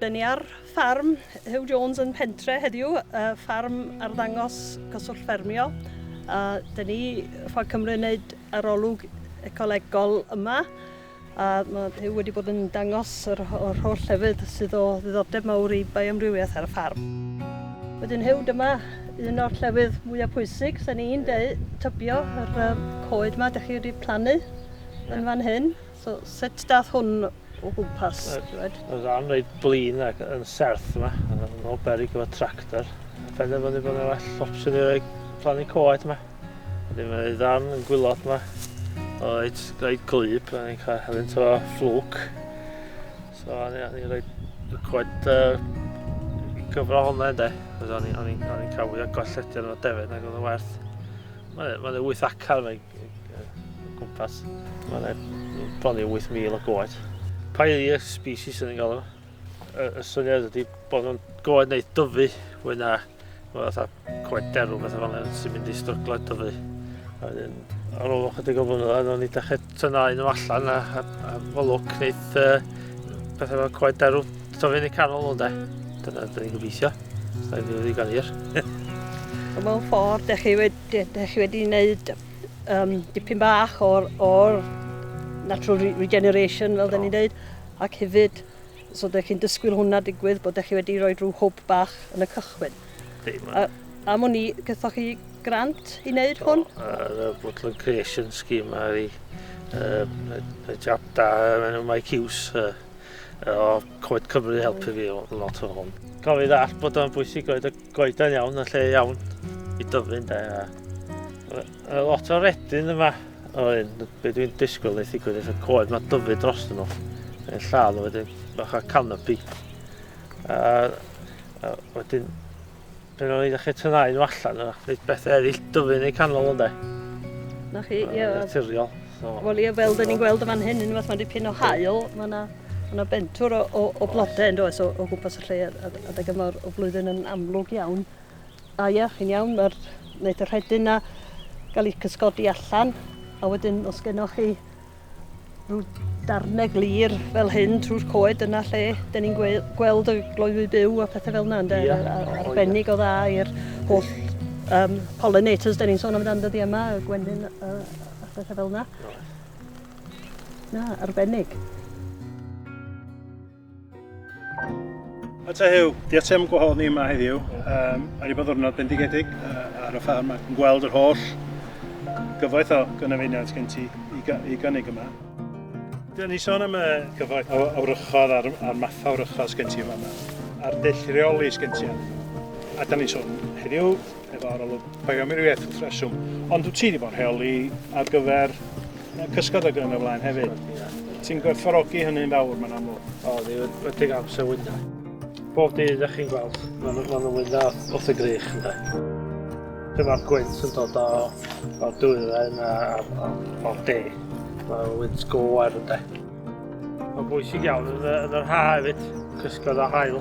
Dyn ni ar ffarm Huw Jones yn Pentre heddiw, uh, ffarm arddangos cyswllt ffermio. A dyn ni Ffordd Cymru yn gwneud arolwg ecolegol yma. A mae Huw wedi bod yn dangos yr yr holl lefydd sydd o ddiddordeb mawr i bioamrywiaeth ar y ffarm. Wedyn Huw, dyma un o'r llefydd mwya pwysig, sa ni'n deu, tybio, yr yym coed 'ma 'dych chi wedi plannu yn fan hyn. So sut dath hwn o gwmpas, ti wed? Yn ran reit blin ac yn serth 'ma, yn ôl berig efo tractor. Penderfynu bod 'na well opsiwn i roi plannu coed 'ma. Wedyn mae ei ddarn yn gwylod ma. O, it's rhaid glyb, a ni'n cael helen to fflwc. So, a ni'n rhaid coed uh, gyfro hwnna ynddo. Fes o'n i'n cael fwy o golletio o'r defyd nag oedd yn werth. Mae'n ma 8 acar fe gwmpas. Mae'n bron i 8,000 o goed. Pairia species yn ei galw. Y, y syniad ydy bod nhw'n goed neu dyfu fwy na Mae fatha coed derw fatha fel yna sy'n mynd i stryglo eto fi. A wedyn, ar ôl ychydig o flynyddoedd, o'n i dechrau tyna un o allan a, a, a fy lwc wneud uh, pethau fel coed derw. So fi'n ei canol nhw, de. Dyna dyn ni'n gobeithio. Dyna dyn ni'n ddigon hir. Mewn ffordd, da chi wedi, da chi wedi wneud um, dipyn bach o'r, or natural regeneration, fel da ni'n dweud, ac hefyd So dych chi'n dysgwyl hwnna digwydd bod chi wedi rhoi rhyw hwb bach yn y cychwyn? Di, A, am o'n i, gythoch chi grant i wneud hwn? Yr uh, Woodland Creation Scheme ar i uh, y jab da yn y Mike Hughes uh, o Coed Cymru helpu fi lot o hwn. Cofio ddall bod o'n bwysig oedd y goedan iawn, y lle iawn i dyfu'n da. A lot o redyn yma. O, un, be dwi'n disgwyl wneud digwydd efo'r coed mae dyfu dros nhw. Yn lladd o wedyn, bach o canopy. A, a wedyn, pen o'n i ddechrau tynnau nhw allan, a wneud beth eraill dyfu neu canol ynddo. Na chi, ie. Naturiol. So, Wel ie, fel dyn ni'n gweld y fan hyn, yn fath mae dipyn o hael, mae yna Mae yna bentwr o, o, o blodau yn does o, o gwmpas y lle a, a, a o flwyddyn yn amlwg iawn. A ia, chi'n iawn, mae'r wneud y rhedyn na gael ei cysgodi allan, a wedyn os gennych chi rhyw darnau glir fel hyn trwy'r coed yna lle da ni'n gweld y gloywi byw a pethau fel yna, ynddo? Yeah. Ar, arbennig o dda i'r holl um, pollinators da ni'n sôn amdano dyddi yma, y gwenyn a, a pethau fel yna. Na, arbennig. A ta Huw, diolch ti am gwahodd ni yma heddiw. Um, mae wedi bod ddwrnod bendigedig uh, ar y ffarm ac yn gweld yr holl gyfoeth o gynefeiniaid gen ti i, i gynnig yma. Dyna ni sôn am y gyfoeth o awrychodd a'r, ar matha awrychodd sgen ti yma, a'r dull rheoli sgen ti yma. A da ni sôn heddiw efo arolwg bioamrywiaeth wrth reswm, ond wyt ti wedi bod yn rheoli ar gyfer cysgod ag yn y flaen hefyd. Ti'n gwerthfarogi hynny'n fawr, mae'n amlwg. O, ni wedi cael amser wynda. Bob dydd, da chi'n gweld, mae'n ma nhw'n wynda wrth y grych, ynddo. Dyma'r gwynt yn dod o, o dwyren a, a, a, o'r de. Mae'n wynt go ar, ynddo. Mae'n bwysig iawn yn, yn yr ha hefyd, cysgod a hael.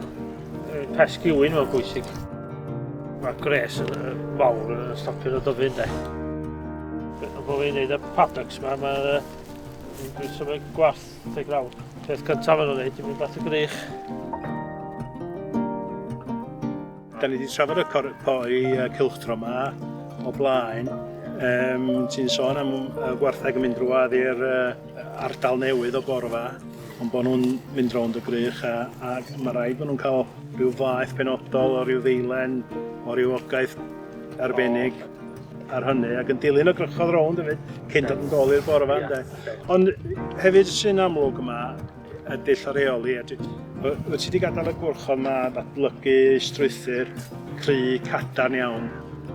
Pesg yw'n mae'n bwysig. Mae gres yn fawr yn stopio'r dyfu ynddo. Ond bod fi'n gwneud y paddocks yma, mae'r dwi'n symud gwarth teg lawr. Peth cyntaf yn o'n gwneud, dwi'n mynd at y grych. Da ni wedi trafod y corpoi cilchtro yma o blaen. Um, Ti'n sôn am y gwartheg yn mynd drwad i'r uh, ardal newydd o gorfa, ond bod nhw'n mynd rownd y grych a, a mae rhaid bod nhw'n cael rhyw faeth penodol o ryw ddeilen, o ryw ogaeth arbennig ar hynny, ac yn dilyn y grychodd rownd hefyd, cyn dod yn dol i'r gorfa. Yeah, okay. Ond hefyd sy'n amlwg yma, a dull o reoli. A dwi, wyt ti wedi gadael y gwrch o yma ddatblygu strwythyr cry cadarn iawn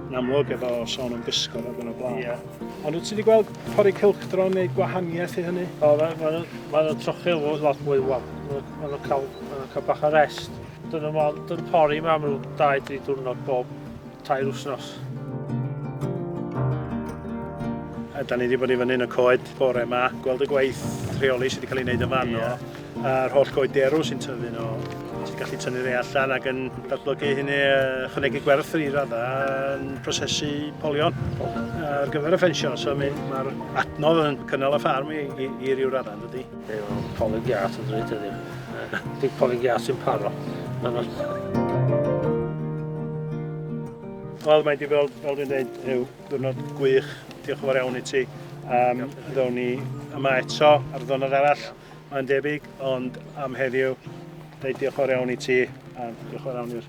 yn amlwg efo sôn am gysgod ac yn y blaen. Yeah. Ond wyt ti wedi gweld pori cilchdro neu gwahaniaeth i hynny? O, mae'n ma, ma, ma trochi o lot mwy wal. Mae'n ma cael, ma cael bach o rest. Dyna mae'n pori mae amlwg 2-3 diwrnod bob tair wsnos. A da ni wedi bod i fyny yn y coed bore yma, gweld y gwaith rheoli sydd wedi cael ei wneud yn fan o, a'r holl goed derw sy'n tyfu nhw, sy'n gallu tynnu rei allan ac yn datblygu hynny, chynegu gwerth i raddau yn prosesu polion ar gyfer y ffensio. So mae'r adnodd yn cynnal y ffarm i, i, i ryw raddau, dydy. Wel, polyn gas yn dweud heddiw. Dim polyn gas sy'n paro. Wel, mae di fel, fel dwi'n dweud, yw diwrnod gwych. Diolch yn fawr iawn i ti. Um, ddown ni yma eto ar ddonod arall, mae'n debyg, ond am heddiw, dweud diolch yn fawr iawn i ti, a diolch yn fawr iawn i'r